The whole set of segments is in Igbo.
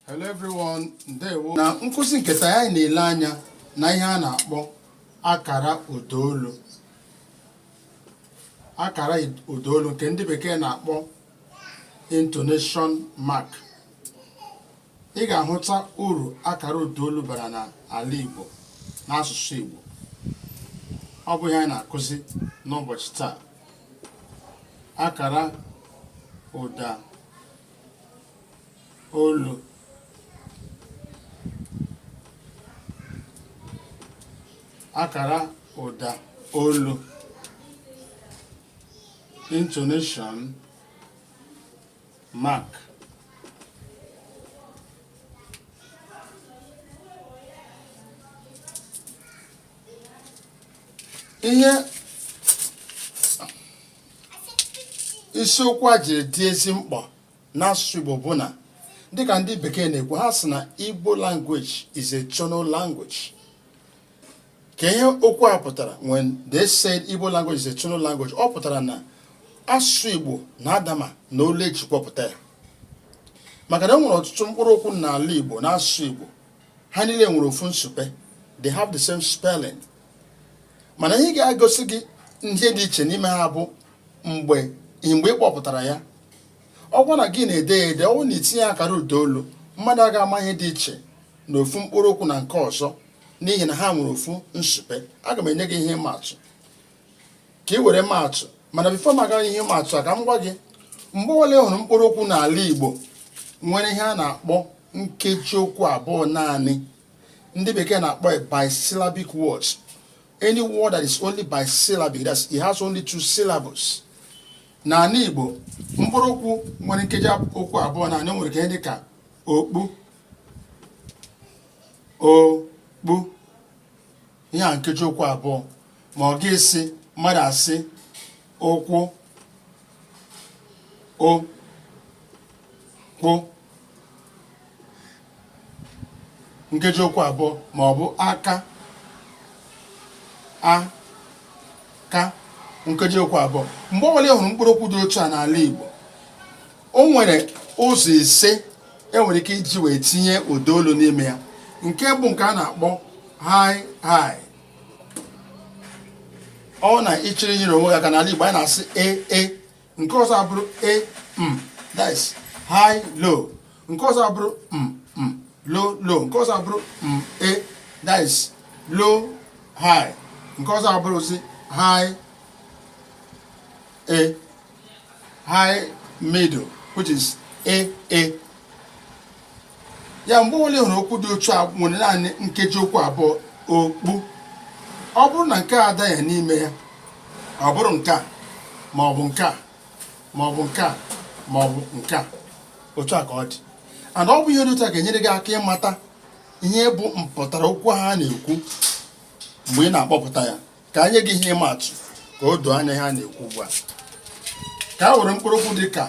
Hello everyone, ndewo. Na nkụzi nke taa anyị na-ele anya na ihe a na-akpọ akara ụdaolu. Akara ụdaolu nke ndị bekee na-akpọ intonation mark. Ị ga-ahụta uru akara ụdaolu bara n'ala Igbo n'asụsụ Igbo. Ọ bụ ihe anyị na-akụzi n'ụbọchị taa. akara ụda olu akara ụda olu intonation mark ihe isiokwu a jiri dị ezi mkpa n'asụsụ Igbo bụ na dịka ndị bekee na-ekwu ha sị na Igbo language is a tonal language kee ihe okwu a pụtara when they said Igbo language is a tonal language ọ pụtara na asụsụ Igbo na-adama na olu eji kpọpụta ya maka na e nwere ọtụtụ mkpụrụ okwu n'ala Igbo na asụsụ Igbo ha niile nwere ofu nsupe they have the same spelling mana ihe ga-egosi gị ihe dị iche n'ime ha bụ mgbe ị mgbe ị kpọpụtara ya ọ wụ na gị na-ede ya ede ọ wụrụ na itinye akara ụda olu mmadụ aga ama ihe dị iche na ofu mkpụrụ okwu na nke ọzọ n'ihi na ha nwere ofu nsupe aga m enye gị ihe ịma atụ ka ị were ma atụ mana before m aga ihe maatụ a ka m gwa gị mgbe ọbụla ị hụrụ mkpụrụ okwu n'ala Igbo nwere ihe a na-akpọ nkeji okwu abụọ naanị ndị bekee na-akpọ bisyllabic words any word that is only bisyllabic that's it has only two syllables n'ala Igbo mkpụrụ okwu nwere nkeji okwu abụọ naanị nwere ka dị ka okpu okpu ihe a nkeji okwu abụọ ma ọ bụ ị sị mmadụ asị okwu o kwu nkeji okwu abụọ ma ọ bụ aka a ka nkeji okwu abụọ mgbe ọbụla ị hụrụ mkpụrụ okwu dị otu a n'ala Igbo o nwere ụzọ ise enwere ike iji wee tinye ụda olu n'ime ya nke mbụ nke a na-akpọ high high ọ na ị chọrọ inyere onwe gị aka n'ala Igbo anyị na-asị e e nke ọzọ abụrụ e m mm, that is high low nke ọzọ abụrụ m mm, m mm, low low nke ọzọ abụrụ m e that is low high nke ọzọ abụrụzi high e high middle which is a a ya mgbe ọbụla ị hụrụ okwu dị otu a nwere naanị nkeji okwu abụọ okpu ọ bụrụ na nke a adaghị n'ime ya ọ bụrụ nke a ma ọ bụ nke a ma ọ bụ nke a ma ọ bụ nke a otu a ka ọ dị and ọ bụ ihe dị otu a ga-enyere gị aka ịmata ihe bụ mpụtara okwu ha na-ekwu mgbe ị na-akpọpụta ya ka anyị ji ihe maa atụ ka o doo anya ihe a na-ekwu ugbu a ka a were mkpụrụ okwu dị ka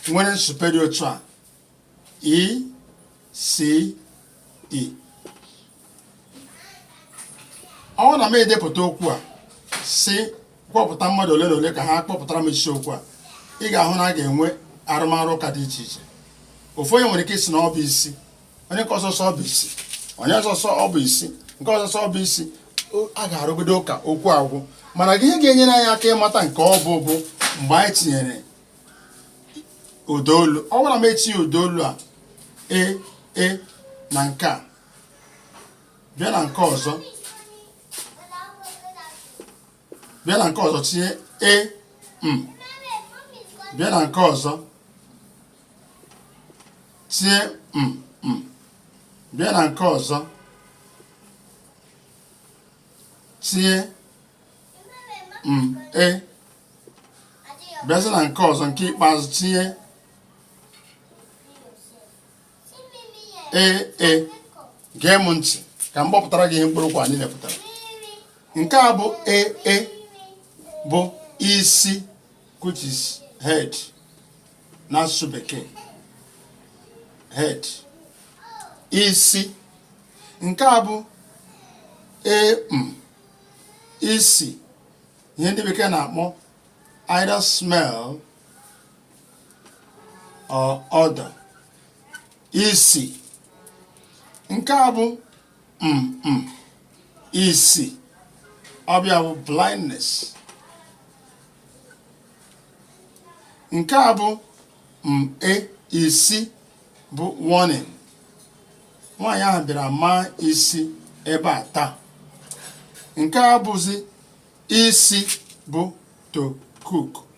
nwere nsupe dị otu a i s i ọ na m edepụta okwu a si kpọpụta mmadụ ole na ole ka ha kpọpụtara m isiokwu a ị ga-ahụ na a ga-enwe arụmarụ ụka dị iche iche ofu onye nwere ike ịsị na ọ bụ isi onye nke ọzọ sị ọ bụ isi onye ọzọ sị ọ bụ isi nke ọzọ sị ọ bụ isi a ga-arụgodo ụka okwu agwụ mana ihe ga-enyere anyị aka ịmata nke ọ bụ bụ mgbe anyị tinyere ụdaolu ọ bụrụ na m etinye ụdaolu a e e na nke a bịa na nke ọzọ bịa na nke ọzọ tinye e m bịa na nke ọzọ tinye m m bịa na nke ọzọ tinye m e bịazi na nke ọzọ nke ikpeazụ tinye ee e gee m ntị ka m kpọpụtara gị ihe mkpụrụ okwu niile pụtara nke a bụ ee e bụ isi which is head n'asụsụ bekee head isi nke a bụ ee m isi ihe ndị bekee na-akpọ either smell or odor isi nke a bụ mm isi ọ bịa bụ blindness nke a bụ mm isi bụ warning nwaanyị ahụ bịara maa isi ebe a taa nke a bụzi isi bụ to cook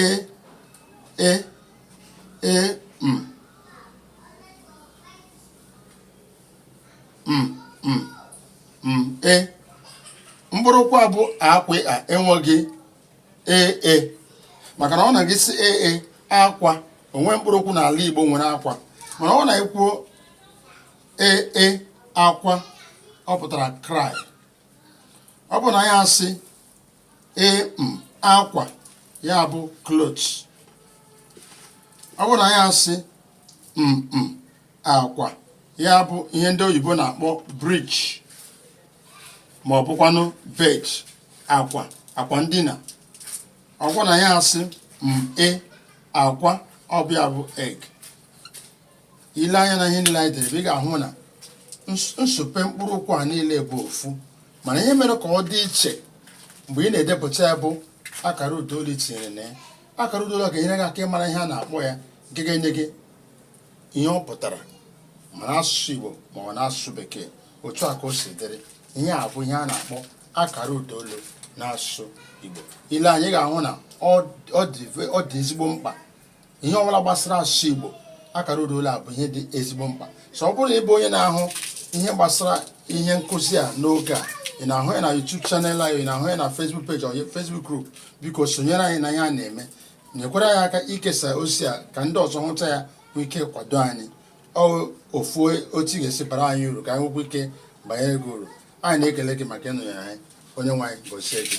e e e m m m m e mkpụrụokwu a bụ akwa a enweghị e e maka na ọ bụ na gị sị e e akwa o nwe mkpụrụokwu n'ala Igbo nwere akwa mana ọ bụ na i kwuo e e akwa ọ pụtara cry ọ bụ na ya asị ịm akwa ya bụ clothes ọ bụrụ na ya asị mm akwa ya bụ ihe ndị oyibo na-akpọ bridge ma ọ bụkwanụ bed akwa akwa ndina ọ bụrụ na ya asị m e akwa ọ bụ ya bụ egg i lee anya na ihe niile anyị dere ị ga-ahụ na nsupe mkpụrụ okwu a niile bụ ofu mana ihe mere ka ọ dị iche mgbe ị na-edepụta ya bụ akara ụda olu i tinyere na ya akara ụda olu ga-enyere gị aka ịmara ihe a na-akpọ ya nke ga-enye gị ihe ọ pụtara ma n'asụsụ Igbo ma n'asụsụ Bekee otu a ka o si dịrị ihe a bụ ihe a na-akpọ akara ụda olu n'asụsụ Igbo i lee anya ị ga-ahụ na ọ dị ezigbo mkpa ihe ọbụla gbasara asụsụ Igbo akara ụda olu a bụ ihe dị ezigbo mkpa so ọ bụrụ na ị bụ onye na-ahụ ihe gbasara ihe nkụzi a n'oge a ị na-ahụ ya na YouTube channel anyị ị na-ahụ ya na Facebook page or Facebook group biko sonyere anyị n'ihe a na-eme nyekwara anyị aka ikesa ozi a ka ndị ọzọ hụta ya nwee ike kwado anyị ofu otu ị ga-esi bara anyị uru ka anyị nwekwa ike banyere gị uru anyị na-ekele gị maka ịnọnyere anyị onye nwe anyị gozie gị